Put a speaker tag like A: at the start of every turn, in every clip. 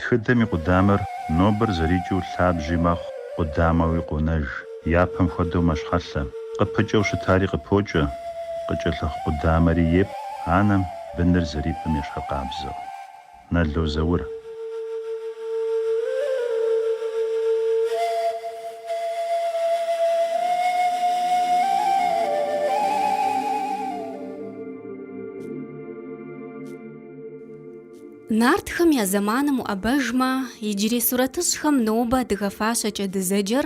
A: Тхыдэм и къудамэр нобэр зэрикӏыу лъабжьи мэхъу, къудамэуи къонэж. Япэм хуэдэу мэщхьэлъэ. Къыпыкӏэу щытари къыпокӏэ, къыкӏэлъыхъу къудамэри епӏ анэм быныр зэрипӏым ещхьыркъабзэу. Нало Заур. Нартхэм я зэманым уӏэбэжмэ, иджырей сурэтыщӏхэм нобэ адыгэ фащэкӏэ дызэджэр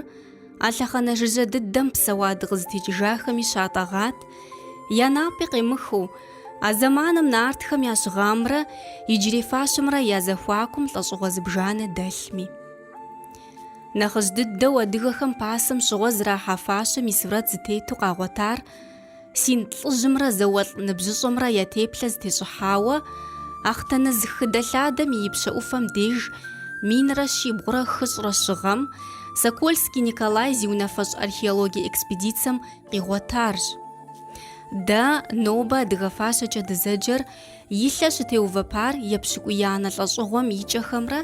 A: а лъэхъэнэ жыжьэ дыдэм псэуа дыкъызытекӏыжахэми щатӏэгъат, я напӏи къемыхыу, а зэманым нартхэм я щыгъамрэ иджырей фащэмрэ я зэхуакум лӏэщӏыгъуэ зыбжанэ дэлъми. Нэхъыжь дыдэу адыгэхэм пасэм щыгъуэ зэрахьа фащэм и сурэт зытету къагъуэтар Синд лӏыжьымрэ зауэлӏ ныбжьыщӏэмрэ я теплъэ зытещӏыхьауэ Ахътэныз хыдэлъадэм и ипщэ ӏуфэм деж минрэ щибгъурэ хыщӏрэ щы гъэм Сокольский Николай зи унафэщӏ археологие экспедицэм къигъуэтарщ. Дэ, нобэ адыгэ фащэкӏэ дызэджэр, И лъэ щытеувэпар епщыкӏуиянэ лӏэщӏыгъуэм и кӏэхэмрэ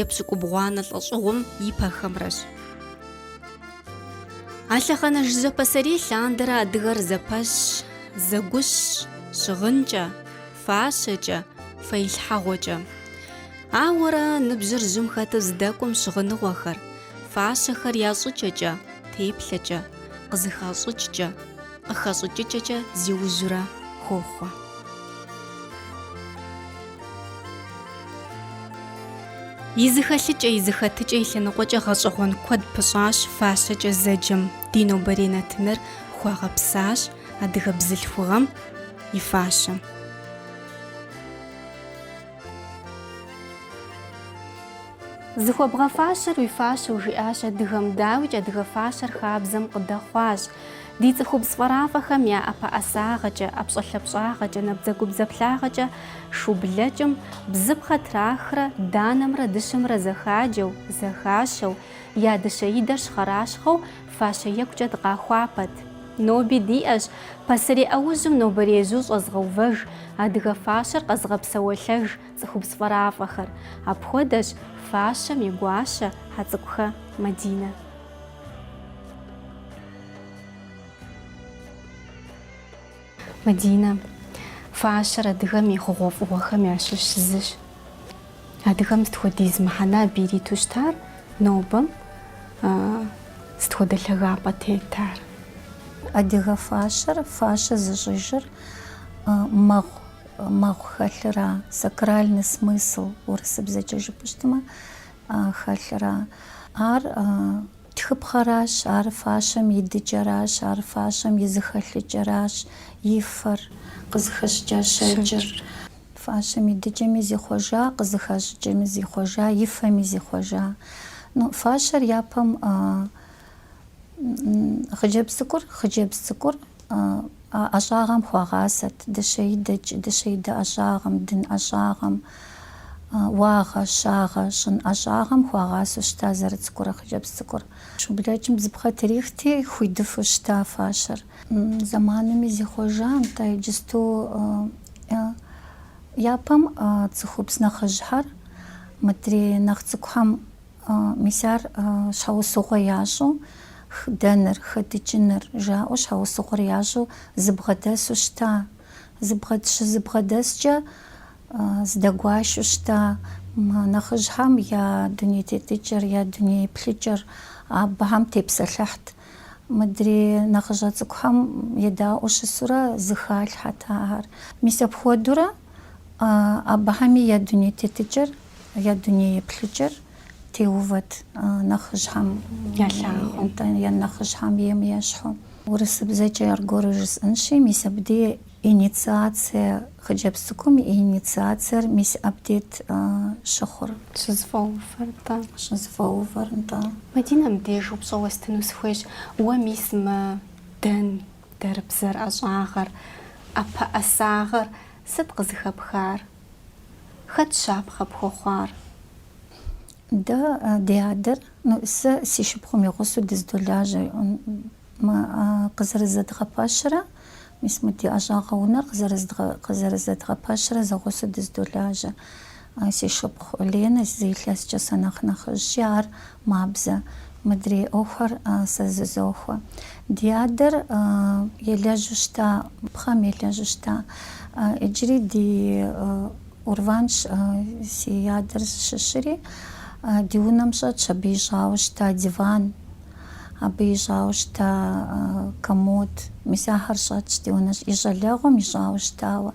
A: епщыкӏубгъуанэ лӏэщӏыгъуэм и пэхэмрэщ. А лъэхъэнэ жыжьэ пасэрей лъандэрэ адыгэр зэпэщщ, зэгущщ, щыгъынкӏэ, фащэкӏэ, фэилъхьэгъуэкӏэ. Ауэрэ, ныбжьыр жьым хэту здэкӏуэм щыгъыныгъуэхэр, фащэхэр я щӏыкӏэкӏэ, теплъэкӏэ, къызыхащӏыкӏкӏэ. Къыхэщӏыкӏыкӏэкӏэ зиужьурэ хохъуэ. И зэхэлъыкӏэ, и зэхэтыкӏэ, и лъэныкъуэкӏэ гъэщӏэгъуэн куэд пыщӏащ фащэкӏэ зэджэм, ди нобэрей нэтыныр хуагъэпсащ адыгэ бзылъхугъэм и фащэм. Зыхуэбгъэфащэр уи фащэу жиӏащ адыгэм, дауикӏ адыгэ фащэр хабзэм къыдэхъуащ. Ди цӏыхубз фӏэрафӏэхэм я ӏэпэӏэсагъэкӏэ, ӏэпщӏэлъапщӏагъэкӏэ, набдзэгубдзаплъагъэкӏэ шу блэкӏым бзыпхъэ трахрэ данэмрэ дыщэмрэ зэхаджэу, зэхащэу, я дыщэидэр щхъэращхъэу фащэ екӏукӏэ дыкъахуапэт. Ноби диӏэщ, пасэрей ӏэужьым нобэр ежьу щӏэзыгъэувэж, адыгэ фащэр къэзыгъэпсэуэлъэж, Цӏыхубз фӏэрафӏэхэр. Апхуэдэщ фащэм и гуащэ Хьэцӏыкӏухэ Мадинэ. Мадинэ фащэр адыгэм и хъугъуэфӏыгъуэхэм ящыщ зыщ. Адыгэм сыт хуэдиз мыхьэнэ абы ириту щытар, нобэм сыт хуэдэ лъагапӏэ тетар. Адыгэ фащэр, фащэ зыщӏыжыр мэхъу мэхъу хэлъыра, сакральный смысл урысыбзэкӏэ жыпӏыщтмэ, хэлъыра. Ар тхыпхъэращ, ар фащэм и дыкӏэращ, ар фащэм и зыхэлъыкӏэращ, и фэр, къызыхэщӏыкӏа щэкӏыр. Фащэм и дыкӏэми зихъуэжа, къызыхащӏыкӏэми зихъуэжа, и фэми зихъуэжа. Ну, фащэр япэм хъыджэбз цӏыкӏур, хъыджэбз цӏыкӏур, ӏэщӏагъэм хуагъасэт, дыщэидэкӏ, дыщэидэ ӏэщӏагъэм, дын ӏэщӏагъэм, уагъэ-щагъэ щӏын ӏэщӏагъэм хуагъасэу щыта зэрыцӏыкӏурэ хъыджэбз цӏыкӏур. Шу блэкӏым бзыпхъэ трихти, хуидыфу щыта фащэр. Зэманми зихъуэжа, нтӏэ, иджысту япэм цӏыхубз нэхъыжьхэр мыдрей нэхъ цӏыкӏухэм. Мис ар щхьэусыгъуэ ящӏу дэныр, хэдыкӏыныр, жаӏэу щхьэусыгъуэр ящӏу зыбгъэдэсу щыта. Щызыбгъэдэскӏэ здэгуашэу щыта нэхъыжьхэм я дуней тетыкӏэр, я дуней еплъыкӏэр абыхэм тепсэлъыхьт. Мыдрей нэхъыщӏэ цӏыкӏухэм едаӏуэу щысурэ зыхалъхьэт ахэр. Мис апхуэдэурэ абыхэми я дуней тетыкӏэр. Я дуней еплъыкӏэр теувэт нэхъыжьхэм я нэхъыжьхэм ейм ещхьу. Урысыбзэкӏэ аргуэру жысӏэнщи, мис абдей инициацие хъыджэбз цӏыкӏум и инициациер мис абдейт щыхъур, щызыфӏэувэр нтӏэ. Мадинэ, мыбдеж упщӏэ уэстыну сыхуейщ. Уэ мис мы дэн, дэрбзэр ӏэщӏагъэр, ӏэпэӏэсагъэр сыт къызыхэпхар? Хэт щапхъэ пхуэхъуар? Дэ ди адэр, ну, сэ си шыпхъум и гъусэу дыздолажьэ, мы къызэрызэдгъэпэщрэ, мис мы ди ӏэщӏагъэ унэр къызэрызэдгъэпэщрэ зэгъусэу дыздолажьэ. Си шыпхъу Ленэ зы илъэскӏэ сэ нэхъ нэхъыжьщи, ар Мабзэ, мыдрей ӏуэхуэр сэ зызохуэ. Ди адэр елэжьу щыта, пхъэм елэжьу щыта. Иджыри ди, Урванщ си адэр зыщыщыри, ди унэм щӏэтщ абы ищӏауэ щыта диван, абы ищӏауэ щыта комод. Мис ахэр щӏэтщ ди унэ и щӏалэгъуэм ищӏауэ щытауэ.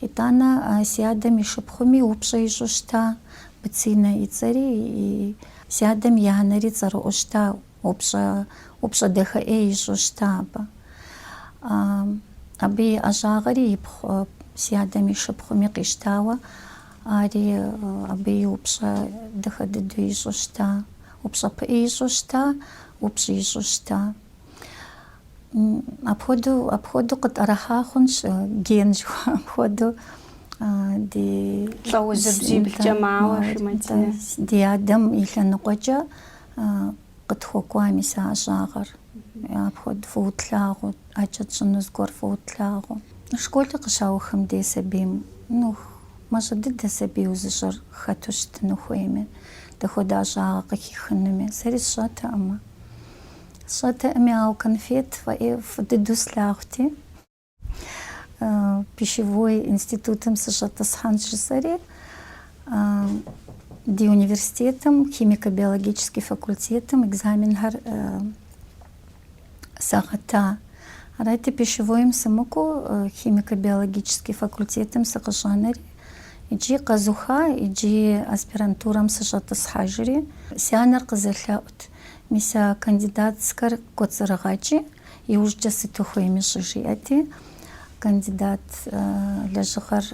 A: Итӏанэ си адэм и шыпхъуми упщӏэ ищӏу щыта, Быцинэ и цӏэри, си адэм и анэри цӏэрыӏуэу щыта, упщӏэ, упщӏэ дахэ ӏей ищӏу щыта абы. Абы и ӏэщӏагъэри и пхъу си адэм и шыпхъуми къищтауэ, ари абы и упщӏэ дахэ дыдэу ищӏу щыта, упщӏэ пыӏи ищӏу щыта, упщӏи ищӏу щыта. Апхуэдэу, апхуэдэу къытӏэрыхьа хъунщ, ген жыхуаӏэм хуэдэу ди. Лӏэужьыр бжьиблкӏэ мауэ жи Мадинэ. Ди адэм и лъэныкъуэкӏэ къытхуэкӏуа мис а ӏэщӏагъэр. Апхуэдэу фӏыуэ тлъагъуу, ӏэкӏэ тщӏыну зыгуэр фӏыуэ тлъагъуу. Школыр къыщаухым дей сабийм, ну, мащӏэ дыдэ сабийуэ зыщӏэр хэту щытыну хуейми, дапхуэдэ ӏэщӏагъэ къыхихынуми, сэри сщӏэтэкъым. Сщӏэтэкъыми, ауэ конфет, э, фӏы дыдэу слъагъути, пищевой институтым сыщӏэтӏысхьэнщ жысӏэри, ди университетым, химико-биологический факультетым экзаменхэр сагъэта. Арати, пищевойм сымыкӏуэу, химико-биологический факультетым сыкъыщӏэнэри, иджы къэзуха, иджы аспирантурэм сыщӏэтӏысхьэжри, си анэр къызэлъэӏут. Мис а кандидатскэр кӏуэцӏрыгъэкӏи, иужькӏэ сыт ухуейми щӏэ жиӏэти, кандидат лэжьыгъэр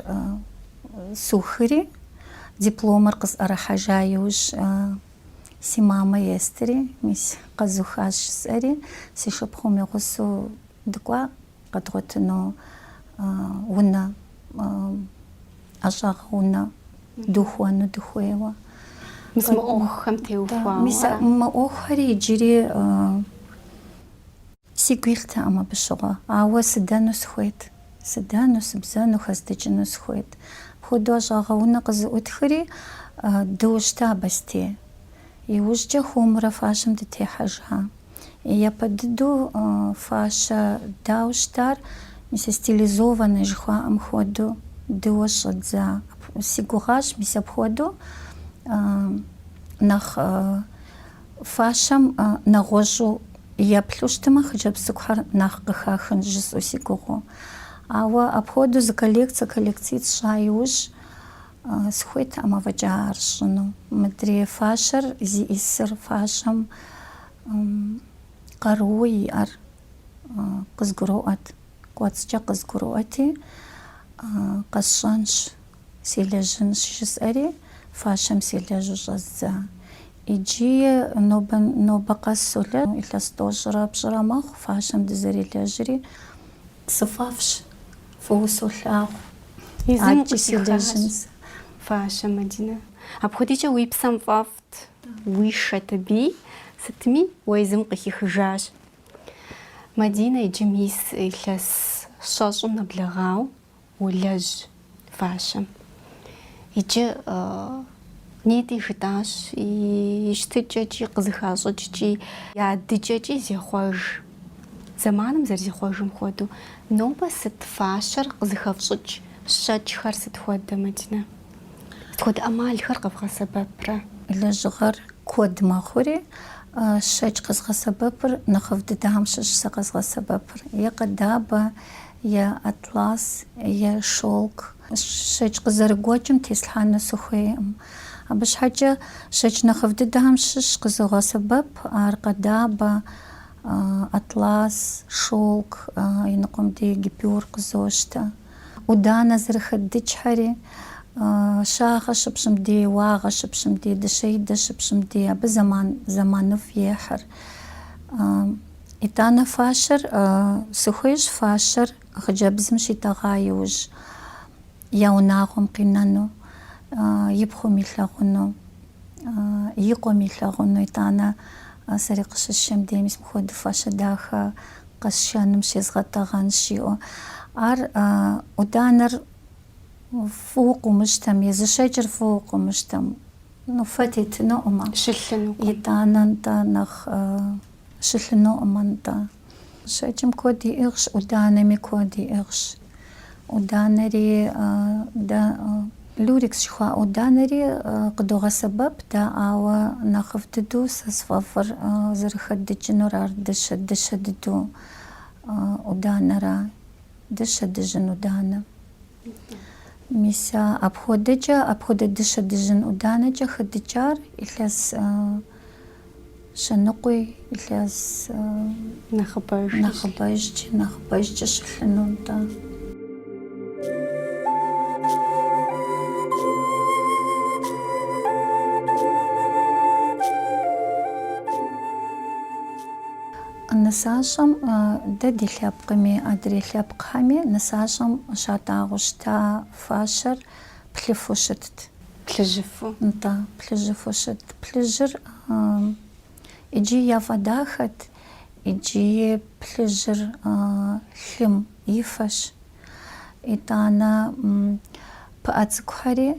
A: сухри, дипломыр къысӏэрыхьэжа иужь си мамэ естри, мис къэзухащ жысӏэри, си шыпхъум и гъусэу дыкӏуа. Къэдгъуэтыну унэ, ӏэщӏагъэ унэ дыухуэну дыхуейуэ. Мис мы ӏуэхухэм теухуауэ. Мис мы ӏуэхухэри иджыри сигу илътэкъым абы щыгъуэ, ауэ сыдэну сыхуейт. Сыдэну, сыбзэну, хэздыкӏыну сыхуейт. Апхуэдэу ӏэщӏагъэ унэ къызыӏутхри, дыущтэ Абэстей. Иужькӏэ хуэмурэ фащэм дытехьэжа. Япэ дыдэу фащэ ддауэ щытар, мис стилизованнэ жыхуаӏэм хуэдэу, ддыуэ щӏэддза. Си гугъащ мис апхуэдэу нэхъ фащэм нэгъуэщӏу еплъу щытымэ, хъыджэбз цӏыкӏухэр нэхъ къыхахынщ жысӏэу си гугъэу. Ауэ апхуэдэу зы коллекцэ, коллекцитӏ тщӏа иужь, Сыхуейтэкъым афӏэкӏа ар сщӏыну. Мыдрей фащэр зиӏисыр фащэм къарууэ иӏэр къызгуроӏуэт. Кӏуэцӏкӏэ къызгуроӏуэти, Къэсщӏэнщ, селэжьынщ, жысӏэри, фащэм селэжьу щӏэздза. Иджы нобэ, нобэ къэс солэжь. Илъэс тӏощӏрэ пщӏырэ мэхъу фащэм дызэрелэжьри. Сыфӏэфӏщ, фӏыуэ солъагъу. Езым адэкӏи къытихащ. селэжьын сэ. Фащэ, Мадинэ. Апхуэдикӏэ уи псэм фӏэфӏт, уишэт абы, сытми, уэ езым укъыхихыжащ. Мадинэ иджы мис илъэс щэщӏым нэблэгъауэ Улэжь фащэм. Иджы нетӏи жытӏащ, и щытыкӏэкӏи, къызыхащӏыкӏкӏи, я дыкӏэкӏи зехъуэж. Зэманым зэрызехъуэжым хуэдэу, нобэ сыт фащэр къызыхэфщӏыкӏ щэкӏхэр сыт хуэдэ, Мадинэ? Сыт хуэдэ ӏэмалхэр къэвгъэсэбэпрэ? Лэжьыгъэр куэд мэхъури, щэкӏ къэзгъэсэбэпыр нэхъыфӏ дыдэхэм щыщ сэ къэзгъэсэбэпыр, е къэдабэ, е атлас, е шелк, щэкӏ къызэрыгуэкӏым теслъхьэну сыхуейкъым. Абы щхьэкӏэ щэкӏ нэхъыфӏ дыдэхэм щыщ къызогъэсэбэп, ар къэдабэ, атлас, шелк, иныкъуэм дей гипюр къызощтэ. ӏуданэ зэрыхэддыкӏхэри, щагъэ щыпщӏым дей, уагъэ щыпщӏым дей, дыщэидэ щыпщӏым дей, абы зэман зэманыфӏ ехьыр. Итӏанэ фащэр сыхуейщ фащэр хъыджэбзым щитӏэгъа иужь я унагъуэм къинэну, и пхъум илъагъуну, и къуэм илъагъуну. Итӏанэ сэри къыщысшэм дей мис мыхуэдэ фащэ дахэ къэсшэным щезгъэтӏэгъэнщ, жиӏэу. Ар ӏуданэр фӏыуэ къыумыщтэм, езы щэкӏыр фӏыуэ къыумыщтэм, ну, фэ тетынукъым. Щылъынукъым. Итӏанэ, нтӏэ, нэхъ. Щылъынукъым нтӏэ. Щэкӏым куэд иӏыгъщ, ӏуданэми куэд иӏыгъщ. ӏуданэри дэ, люрекс жыхуаӏэ ӏуданэри къыдогъэсэбэп дэ, ауэ нэхъыфӏ дыдэу сэ сфӏэфӏыр зэрыхэддыкӏынур ар дыщэ, дыщэ дыдэу ӏуданэра, дыщэ дыжьын ӏуданэ. Мис а апхуэдэкӏэ, апхуэдэ дыщэ дыжьын ӏуданэкӏэ хэдыкӏар илъэс щэныкъуи, илъэс нэхъыбэж, нэхъыбэжкӏ, нэхъыбэжкӏэ щылъыну нтӏэ. Нысащӏэм дэ ди лъэпкъми, адрей лъэпкъхэми нысащӏэм щатӏагъэу щыта фащэр плъыфэу щытт. Плъыжьыфэу? Нтӏэ, плъыжьыфэу щытт. Плъыжьыр иджы яфӏэдахэт, иджыи плъыжьыр лъым и фэщ. Итӏанэ пыӏэ цӏыкӏухэри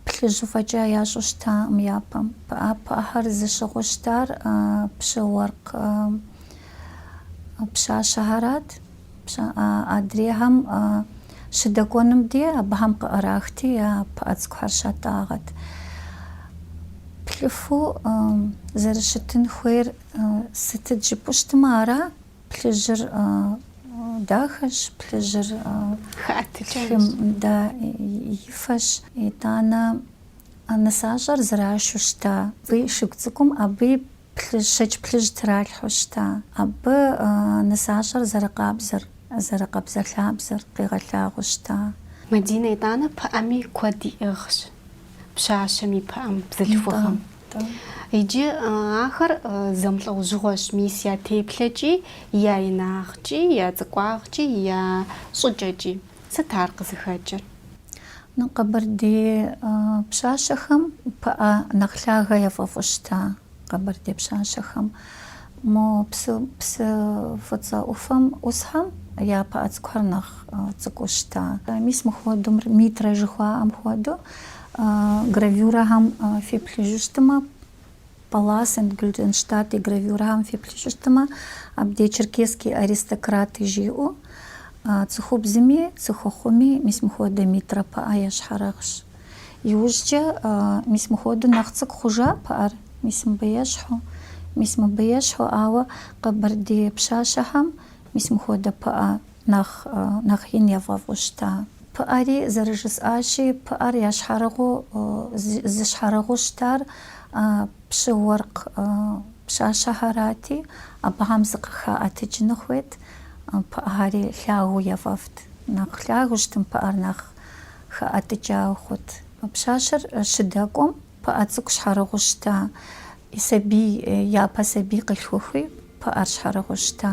A: плъыжьыфэкӏэ ящӏу щытакъым япэм. Пыӏэ пыӏэхэр зыщыгъыу щытар пщы уэркъ пщащэхэрат. Адрейхэм щыдэкӏуэным дей абыхэм къыӏэрахти, я пыӏэ цӏыкӏухэр щатӏагъэт. Плъыфэу зэрыщытын хуейр сытыт жыпӏэу щытмэ ара? Плъыжьыр дахэщ, плъыжьыр лъым да и фэщ. Итӏанэ нысащӏэр зэрашэу щыта и шыгу цӏыкӏум абы плъыжь, щэкӏ плъыжь тралъхьэу щыта. Абы нысащӏэр зэрыкъабзэр, зэрыкъабзэлъабзэр къигъэлъагъуэу щыта. Мадинэ итӏанэ пыӏэми куэд иӏыгъщ, пщащэм и пыӏэм, бзылъхугъэм. Итӏанэ Иджы ахэр зэмылӏэужьыгъуэщ мис я теплъэкӏи, я инагъкӏи, я цӏыкӏуагъкӏи, я щӏыкӏэкӏи. Сыт ар къызыхэкӏыр? Ну, къэбэрдей пщащэхэм пыӏэ нэхъ лъагэ яфӏэфӏу щыта къэбэрдей пщащэхэм. Мо псы, псы фӏыцӏэ ӏуфэм ӏусхэм я пыӏэ цӏыкӏухэр нэхъ цӏыкӏуу щыта. Мис мыхуэдэу мыр, митрэ жыхуаӏэм хуэдэу. Гравюрэхэм феплъыжыщтымэ, Паллас энд Гюльденштадт и гравюрэхэм феплъыжыщтымэ, абдей черкесские аристократы жиӏэу, цӏыхубзми, цӏыхухъуми мис мыхуэдэ митрэ пыӏэ ящхьэрыгъщ. Иужькӏэ мис мыхуэдэу нэхъ цӏыкӏу хъужа пыӏэр. Мис мыбы ещхьу. Мис мыбы ещхьу, ауэ къэбэрдей пщащэхэм мис мыхуэдэ пыӏэ Нэхъ, нэхъ ин яфӏэфӏу щыта. Пыӏэри зэрыжысӏащи, пыӏэр ящхьэрыгъыу, зыщхьэрыгъыу щытар пщы-уэркъ пщащэхэрати, абыхэм зыкъыхаӏэтыкӏыну хуейт, пыӏэхэри лъагэу яфӏэфӏт. Нэхъ лъагэу щытым пыӏэр нэхъ хэӏэтыкӏауэ хъут. Пщащэр щыдэкӏуэм, Пыӏэ цӏыкӏу щхьэрыгъыу щыта. И сабий япэ сабий къилъхухуи, пыӏэр щхьэрыгъыу щыта.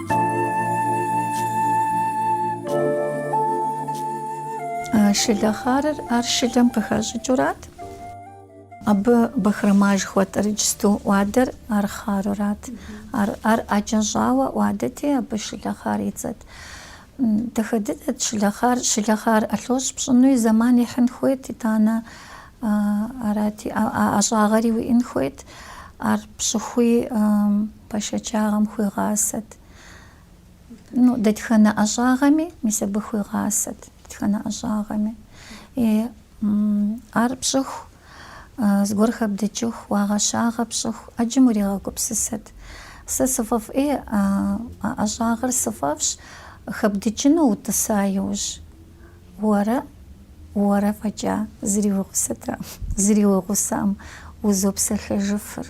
A: Шылэ хъарыр ар шылэм къыхэщӏыкӏыурат. Абы бахрома жыхуэтӏэрыкӏ сту ӏуадэр ар хъарурат. Ар ар ӏэкӏэ щӏауэ ӏуадэти, абы шылэ хъар и цӏэт. Дахэ дыдэт шылэ хъар. Шылэ хъар ӏэлъощӏ пщӏынуи зэман ихьын хуейт, итӏанэ арати, а ӏэщӏагъэри уиӏын хуейт. Ар пщӏыхуи Бэшэчагъэм хуигъасэт. Ну, дэтхэнэ ӏэщӏагъэми, мис абы хуигъасэт, дэтхэнэ ӏэщӏагъэми. И, ар пщӏыху, зыгуэр хэбдыкӏыху, уагъэ-щагъэ пщӏыху, ӏэджэм уригъэгупсысэт. Сэ сыфӏэфӏ, ӏей, а ӏэщӏагъэр сыфӏэфӏщ, хэбдыкӏыну утӏыса иужь, уэрэ, уэрэ фӏэкӏа зыри уи гъусэтэкъым, зыри уи гъусэкъым, узопсэлъэжыфыр.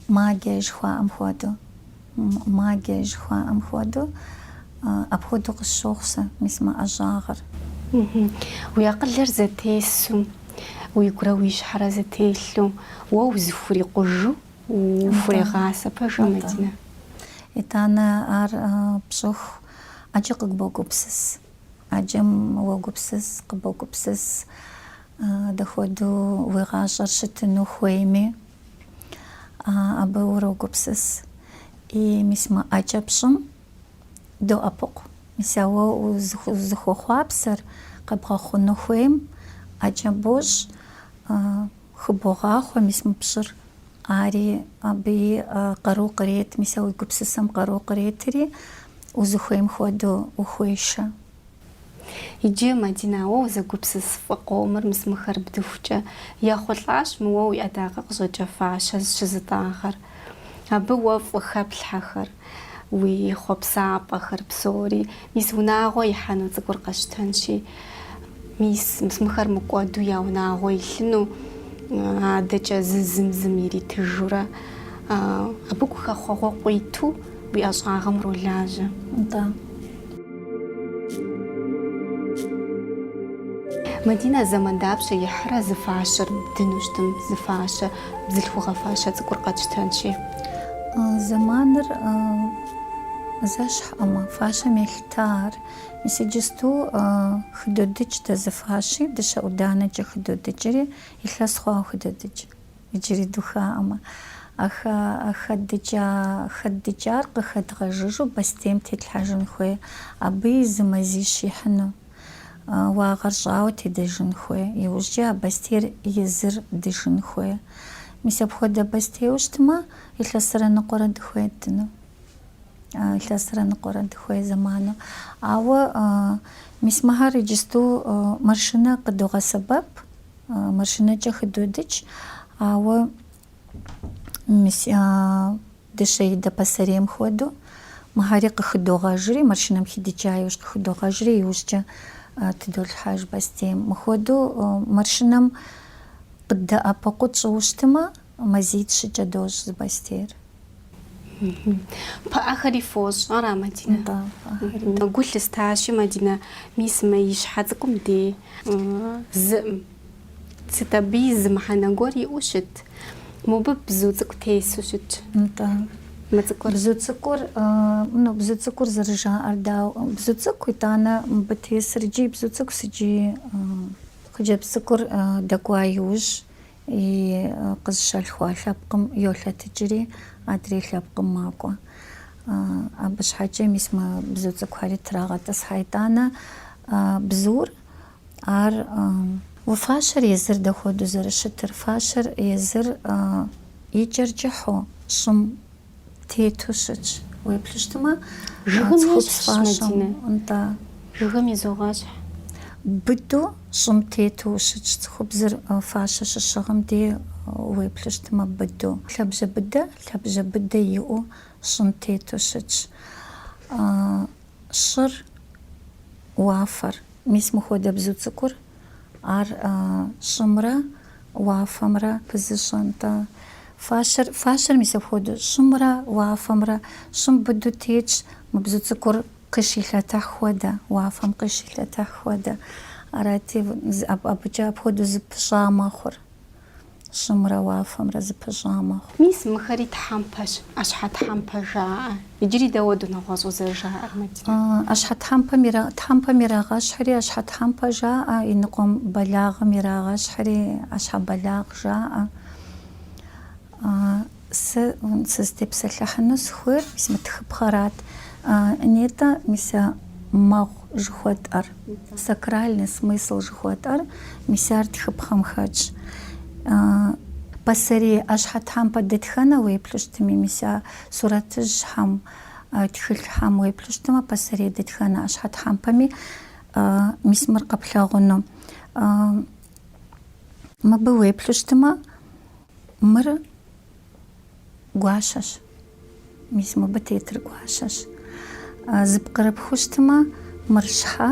A: Магия жыхуаӏэм хуэдэу. Магия жыхуаӏэм хуэдэу. Апхуэдэу къысщохъу сэ, мис мы ӏэщӏагъэр. Уи акъылыр зэтесу, уигурэ уи щхьэрэ зэтелъу, уэ узыхурикъужу ухурегъасэ, пэжу, Мадинэ. Итӏанэ ар пщӏыху, ӏэджэ къыбогупсыс. ӏэджэм уогупсыс, къыбогупсыс. Дэ хуэдэу уи гъащӏэр щытыну хуейми, абы урогупсыс. И мис мы ӏэкӏэ пщӏым доӏэпыкъу. Мис а уэ узыхуэхъуапсэр къэбгъэхъуну хуейм, ӏэкӏэ бощӏ, хыбогъахъуэ мис мы пщӏыр. Ари абы и къару кърет, мис а уи гупсысэм къару къретри, узыхуейм хуэдэу ухуешэ. Иджы Мадинэ уэ узэгупсыс фӏы къомыр мысмыхэр бдыхукӏэ ехъулӏащ мы уэ уи ӏэдакъэ къыщӏэкӏа фащэ щызытӏагъэр. Абы уэ фӏы хэплъхьэхэр, уи хъуэпсапӏэхэр псори, мис унагъуэ ихьэну цӏыкӏур къэсщтэнщи, мис мысмыхэр мыкӏуэду я унагъуэ илъыну адэкӏэ зы зым зым иритыжурэ абы гухэхъуэгъуэ къуиту уи ӏэщӏагъэм уролажьэ. Атӏэ. Мадинэ зэман дапщэ ихьрэ зы фащэр бдыну щытым, зы фащэ, бзылъхугъэ фащэ цӏыкӏур къэтщтэнщи? Зэманыр зэщхьӏэмэ, фащэм елъыта ар. Мис иджысту хыдодыкӏ дэ зы фащи, дыщэ ӏуданэкӏэ хыдодыкӏри, илъэс хъуауэ хыдодыкӏ. Иджыри духаӏэмэ, а хэдыкӏа хэдыкӏар къыхэдгъэжыжу бостейм тетлъхьэжын хуей, абы и зы мазищ ихьыну, уагъэр щӏауэ тедэжын хуей, иужькӏэ а бостейр езыр дыжын хуей. Мис апхуэдэ бостейуэ щытмэ, илъэсрэ ныкъуэрэ дыхуей ддыну, илъэсрэ ныкъуэрэ дыхуей зэману. Ауэ мис мыхьэр иджысту машинэ къыдогъэсэбэп, Машинэкӏэ хыдодыкӏ, ауэ дыщэидэ пасэрейм хуэдэу мыхьэри къыхыдогъэжри, машинэм хидыкӏа иужь къыхыдогъэжри, иужькӏэ тыдолъхьэж бастейм. Мыхуэдэу машинэм къыддэӏэпыкъуу тщӏыу щытмэ, Мазитӏ-щыкӏэ дощӏ зы бостейр. Пыӏэхэри фощӏ, ара, Мадинэ? Нтӏэ, пыӏэхэри. Гу лъыстащи, Мадинэ, мис мы и щхьэ цӏыкӏум тесым сыт абы и зы мыхьэнэ гуэр иӏэу щыт? Мобы бзу цӏыкӏу тесу щытщ. Нтӏэ. Мы цӏыкӏур? Бзу цӏыкӏур, ну, бзу цӏыкӏур зэрыжаӏэр дауэ? Бзу цӏыкӏу, итӏанэ, мыбы тесыр иджи бзу цӏыкӏущ, иджи хъыджэбз цӏыкӏур дэкӏуа иужь, И къызщалъхуа лъэпкъым йолъэтыкӏри, адрей лъэпкъым макӏуэ. Абы щхьэкӏэ мис мы бзу цӏыкӏухэри трагъэтӏысхьэ итӏанэ бзур, ар. Уэ фащэр езыр дэ хуэдэу зэрыщытыр? Фащэр езыр и кӏэр кӏыхьу, щӏым Тету щытщ. Уеплъыщтымэ, Жыгым цӏыхубз ещхьщ фащэм. Мадинэ. Нтӏэ. Жыгым изогъэщхь. Быду щӏым тету ущытщ. Цӏыхубзыр фащэ щыщыгъым дей уеплъыщтымэ, быду. Лъэбжьэ быдэ, лъэбжьэ быдэ иӏэу щӏым тету щытщ. Щӏыр, уафэр. Мис мыхуэдэ бзу цӏыкӏур ар щӏымрэ уафэмрэ пызыщӏэн-тӏэ? Фащэр, фащэр мис апхуэдэу, щӏымрэ уафэмрэ, щӏым быду тетщ, мы бзу цӏыкӏур къыщилъэтыхь хуэдэ, уафэм къыщилъэтыхь хуэдэ. Арати, абыкӏэ апхуэдэу зыпыщӏа мэхъур. щӏымрэ уафэмрэ зыпыщӏа мэхъу. Мис мыхэри тхьэмпэщ, ӏэщхьэтхьэмпэ жаӏэ. Иджыри дауэдэу нэгъуэщӏу зэрыжаӏэр, Мадинэ? Ӏэщхьэтхьэмпэм ира, тхьэмпэм ирагъэщхьри ӏэщхьэтхьэмпэ жаӏэ, и ныкъуэм бэлагъым ирагъэщхьри ӏэщхьэбэлагъ жаӏэ. Сэ сызытепсэлъыхьыну сыхуейр мис мы тхыпхъэрат. Нетӏэ, мис а мэгъу жыхуэтӏэр, сакральный смысл жыхуэтӏэр, мис ар тхыпхъэм хэтщ. Пасэрей ӏэщхьэ тхьэмпэ дэтхэнэ уеплъу щытми, мис а сурэтыжьхэм, тхылъхэм уеплъу щытмэ, пасэрей дэтхэнэ ӏэщхьэ тхьэмпэми, мис мыр къэплъагъуну. Мыбы уеплъу щытмэ, Мыр гуащэщ. Мис мыбы тетыр гуащэщ. Зыпкърыпхущтмэ, мыр щхьэ,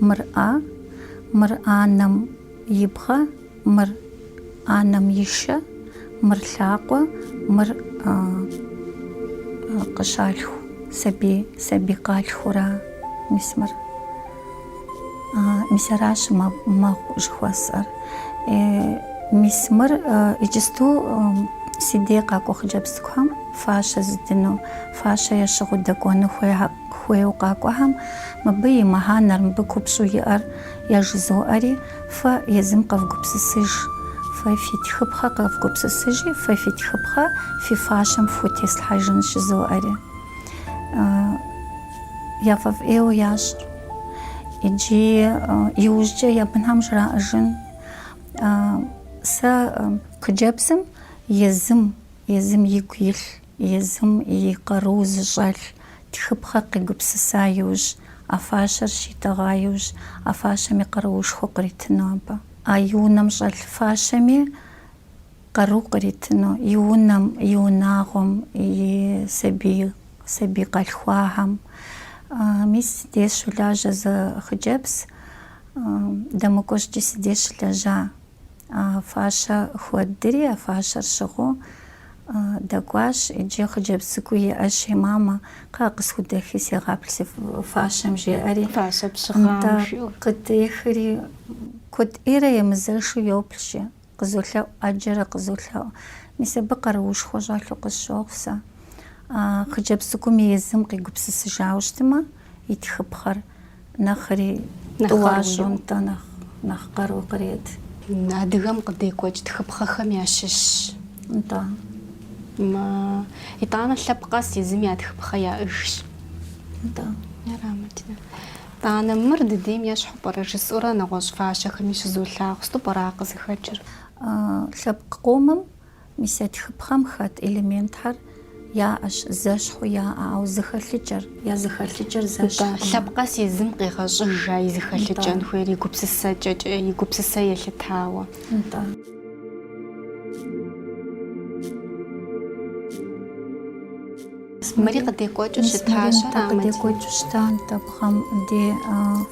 A: мыр ӏэ, мыр анэм и бгъэ, мыр анэм и шэ, мыр лъакъуэ, мыр къыщалъху сабий, сабий къалъхура мис мыр. Мис аращ мэгъу жыхуэсӏэр. Мис мыр иджысту си дей къакӏуэ хъыджэбз цӏыкӏухэм фащэ зыдыну, фащэ ящыгъыу дэкӏуэну хуейуэ къакӏуэхэм мыбы и мыхьэнэр, мыбы купщӏэу иӏэр яжызоӏэри, фэ езым къэвгупсысыж, фэ фи тхыпхъэ къэвгупсысыжи, фэ фи тхыпхъэ фи фащэм фхутеслъхьэжын жызоӏэри. яфӏэфӏ ӏейуэ ящӏыр. Иджи иужькӏэ я бынхэм жраӏэжын сэ хъыджэбзым езым, езым игу илъ, езым и къару зыщӏэлъ тхыпхъэр къигупсыса иужь, а фащэр щитӏэгъа иужь, а фащэми къаруушхуэ къритыну абы. А и унэм щӏэлъ фащэми, къару къритыну и унэм, и унагъуэм, и сабий, сабий къалъхуахэм. Мис си деж щолажьэ зы хъыджэбз, дэмыкӏуэ щӏыкӏи си деж щылэжьа. А фащэ хуэддри, а фащэр щыгъыу дэкӏуащ иджы хъыджэбз цӏыкӏу иӏэщи, Мамэ, кхъыӏэ, къысхудэхи сегъаплъ си фащэм, жеӏэри. Фащэ пщыгъам жиӏэу. Къытехри, куэд ӏейрэ емызэшу йоплъ, жи. Къызолъэӏу, ӏэджэрэ къызолъэӏу. Мис абы къаруушхуэ щӏэлъу къысщохъу сэ. А хъыджэбз цӏыкӏуми езым къигупсысыжауэ щытмэ, и тхыпхъэр нэхъри Нэхъ тӏуа къару щӏу, иӏэу. нтӏэ, нэхъ, нэхъ къару кърет. Адыгэм къыдекӏуэкӏ тхыпхъэхэм ящыщщ. Нтӏэ. Мэ, итӏанэ лъэпкъ къэс езым я тхыпхъэ яӏэжщ. Нтӏэ. Ярамыт, да. Ана, мыр дыдейм ещхьу пӏэрэ? жысӏэурэ нэгъуэщӏ фащэхэми щызолъагъу, Сыту пӏэрэ а къызыхэкӏыр? Лъэпкъ къомым мис я тхыпхъэм хэт элементхэр яӏэщ, зэщхьу яӏэ, ауэ зыхэлъыкӏэр, я зыхэлъыкӏэр зэщхькъым. Лъэпкъ къэс езым къигъэщӏыжа и зыхэлъыкӏэн хуейр и гупсысэкӏэкӏэ, и гупсысэ елъытауэ. Нтӏэ. Мыри къыдекӏуэкӏыу щытащ ар амэдзми. Мис мыри къыдекӏуэкӏыу щыта нтӏэ, бгъэм де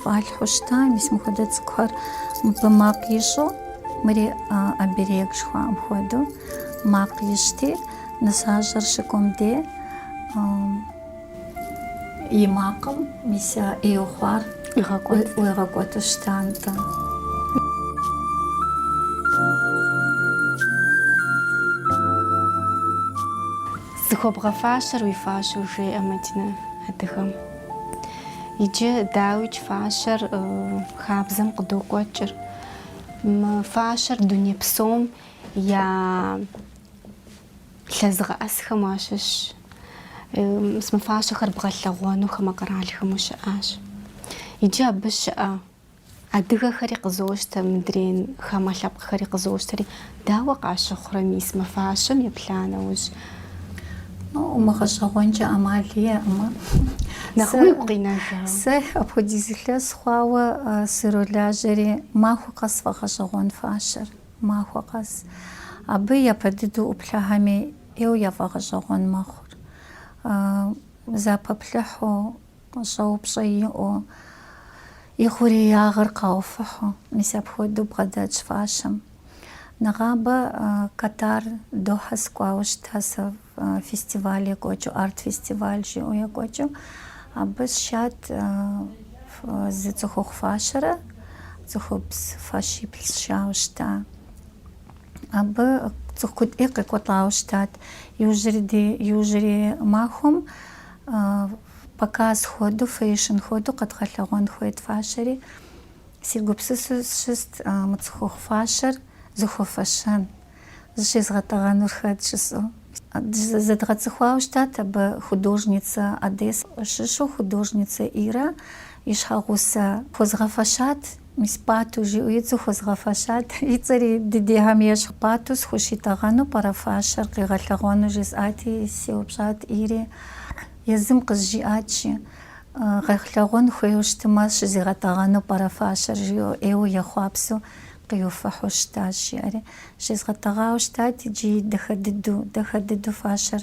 A: фӏалъхьэу щыта, мис мыхуэдэ цӏыкӏухэр мыбы макъ ищӏу, мыри оберег жыхуаӏэм хуэдэу макъ ищӏти, нысащӏэр щыкӏуэм де и макъым мис а ӏейу хъуар ӏуигъэкӏуэту щыта нтӏэ. Зыхуэбгъэфащэр уи фащэу жеӏэ Мадинэ адыгэм. Иджы дауикӏ фащэр хабзэм къыдокӏуэкӏыр. Мы фащэр дуней псом ялъэзыгъэӏэсхэм уащыщщ. Мы фащэхэр бгъэлъэгъуэну хамэ къэралхэм ущыӏащ. Иджы абы щыӏэ Адыгэхэри къызощтэ, мыдрейн хамэ лъэпкъхэри къызощтэри, дауэ къащыхъурэ мис мы фащэм епла нэужь? Умыгъэщӏэгъуэнкӏэ ӏэмал иӏэкъымэ. Нэхъ уигу къинэжа? Сэ апхуэдиз илъэс хъуауэ сролажьэри, махуэ къэс сфӏэгъэщӏэгъуэн фащэр, махуэ къэс. Абы япэ дыдэу ӏуплъэхэми ӏейуэ яфӏэгъэщӏэгъуэн мэхъур. Зэпаплъыхьу Щӏэупщӏэ иӏэу, и хъуреягъыр къауфыхьу. Мис апхуэдэу бгъэдэтщ фащэм. Нэгъабэ Катар, Дохьэ сыкӏуауэ щыта сэ фестиваль екӏуэкӏыу, арт-фестиваль жиӏэу екӏуэкӏыу. Абы сшат зы цӏыхухъу фащэрэ цӏыхубз фащиплӏ сшауэ щыта. Абы цӏыху куэд ӏей къекӏуэлӏауэ щытат. Иужьрей, иужьрей махуэм. Показ хуэдэу, фэшн хуэдэу къэдгъэлъэгъуэн хуейт фащэри, сегупсысу сщыст мы цӏыхухъу фащэр зыхуэфэщэн, зыщезгъэтӏэгъэнур хэт жысӏэу. Зэдгъэцӏыхуауэ щытат абы художницэ Одессе щыщу художницэ Ирэ и щхьэгъусэ. Хуэзгъэфэщат. Мис Пӏату жиӏэу и цӏэу хуэзгъэфэщат. И цӏэри дыдейхэм ещхь. Пӏату схущитӏэгъэну пӏэрэ фащэр къигъэлъэгъуэну? жысӏати, сеупщӏат Ири. Езым къызжиӏат жи, Гъэлъэгъуэн хуейуэ щытымэ, щызигъэтӏэгъэну пӏэрэ фащэр? жиӏэу ӏейуэ ехъуапсэу къиуфыхьу щытащ, жиӏэри. Щезгъэтӏэгъауэ щытат иджы дахэ дыдэу, дахэ дыдэу фащэр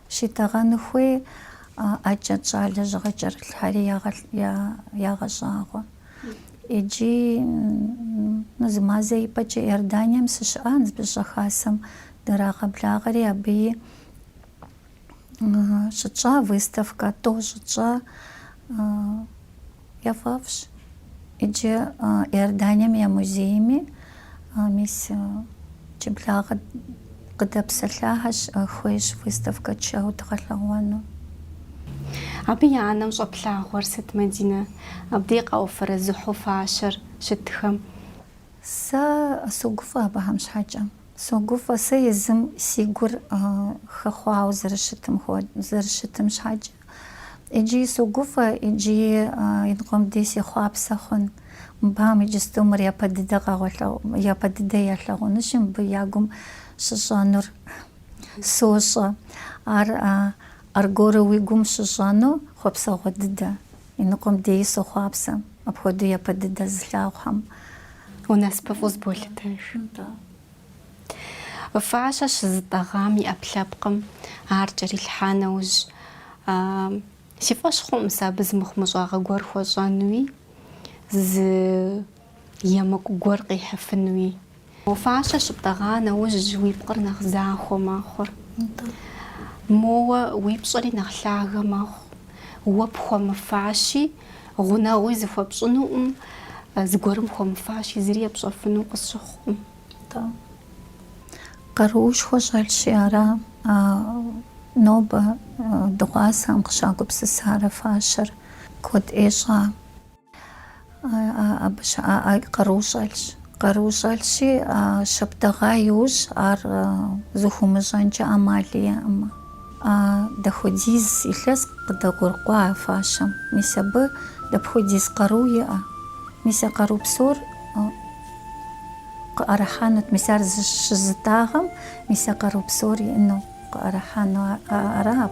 A: Щитӏэгъэну хуей ӏэкӏэт щӏалэ жьыгъэ кӏэрылъхэри ягъэщӏагъуэ. Иджы зы мазэ ипэкӏэ Иорданием сыщыӏа Ныбжьыщӏэ Хасэм дырагъэблагъэри, абыи щытщӏа выставкэ, тӏо щытщӏа Яфӏэфӏщ иджы Иорданием я музейми, мис иджыблагъэ къыдэпсэлъахэщ, хуейщ выставкэ тшэуэ дгъэлъэгъуэну. Абы я нэм щӏэплъагъуэр сыт, Мадинэ? Абдей къауфэрэзыхьу фащэр щытхэм. Сэ согуфӏэ абыхэм щхьэкӏэ. Согуфӏэ сэ езым си гур хэхъуауэ зэрыщытым, зэрыщытым щхьэкӏэ. Иджыи согуфӏэ, иджыи иныкъуэм дей сыхъуапсэ хъун. Мыбыхэм иджысту мыр япэ дыдэ къэгъуэлъэгъу, япэ дыдэ ялъагъунущи, мыбы я гум щыщӏэнур сощӏэ. Ар аргуэру уи гум щыщӏэну хъуэпсэгъуэ дыдэ. Иныкъуэм дей сохъуапсэ, апхуэдэу япэ дыдэ зылъагъухэм. Унасыпыфӏэу зыболъытэж. Фащэ щызытӏэгъам и ӏэпкълъэпкъым ар кӏэрилъхьа нэужь, си фӏэщ хъуӏым сэ абы зы мыхъумыщӏагъэ гуэр хуэщӏэнуи, зы емыкӏу гуэр къихьыфынуи. Фащэ щыптӏэгъа нэужь уи пкъыр нэхъ захуэ мэхъур. Моуэ уи пщӏэри нэхъ лъагэ мэхъу. Уэ пхуэмыфащи, гъунэгъуи зыхуэпщӏынуӏым, зыгуэрым хуэмыфащи, зыри епщӏэфыну къысщыхъукъым. Къаруушхуэ щӏэлъщи ара а нобэ дыгъуасэӏым къыщагупсысар а фащэр куэд ӏей щӏа. Абы щыӏэ къару щӏэлъщ. Къару щӏэлъщи, а щыптӏэгъа иужь ар зыхыумыщӏэнкӏэ ӏэмал иӏэкъымэ. Дапхуэдиз илъэс къыдэгъуэгурыкӏуа а фащэм? Мис абы дапхуэдиз къару иӏэ? Мис а къару псор? Къыӏэрыхьэнут, мис ар зыщызытӏагъэм мис а къару псор иӏэну къыӏэрыхьэну ара?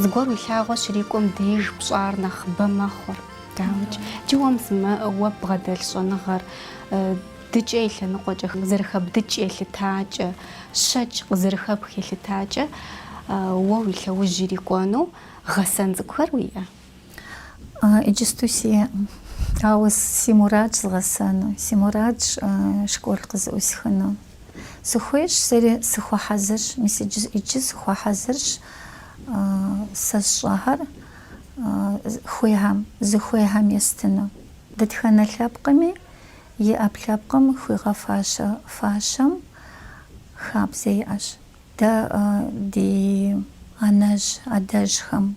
A: Зыгуэр уи лъагъуэ щрикӏуэм деж пщӏэр нэхъыбэ мэхъур. Дауикӏ, джы уэ мис мы уэ бгъэдэлъ щӏэныгъэр дыкӏэ и лъэныкъуэкӏэ къызэрыхэбдыкӏ елъытакӏэ, щэкӏ къызэрыхэпх елъытакӏэ уэ уи лъэужь ирикӏуэну гъэсэн цӏыкӏухэр уиӏэ? Иджысту сиӏэкъым. Ауэ си мурадщ згъэсэну. Си мурадщ школ къызыӏусхыну. Сыхуейщ, сэри сыхуэхьэзырщ. Мис иджы, иджы сыхуэхьэзырщ сэ сщӏэхэр хуейхэм, зыхуейхэм естыну. Дэтхэнэ лъэпкъми и ӏэпкълъэпкъым хуигъэфащэ фащэм хабзэ иӏэщ. Дэ ди анэжь, адэжьхэм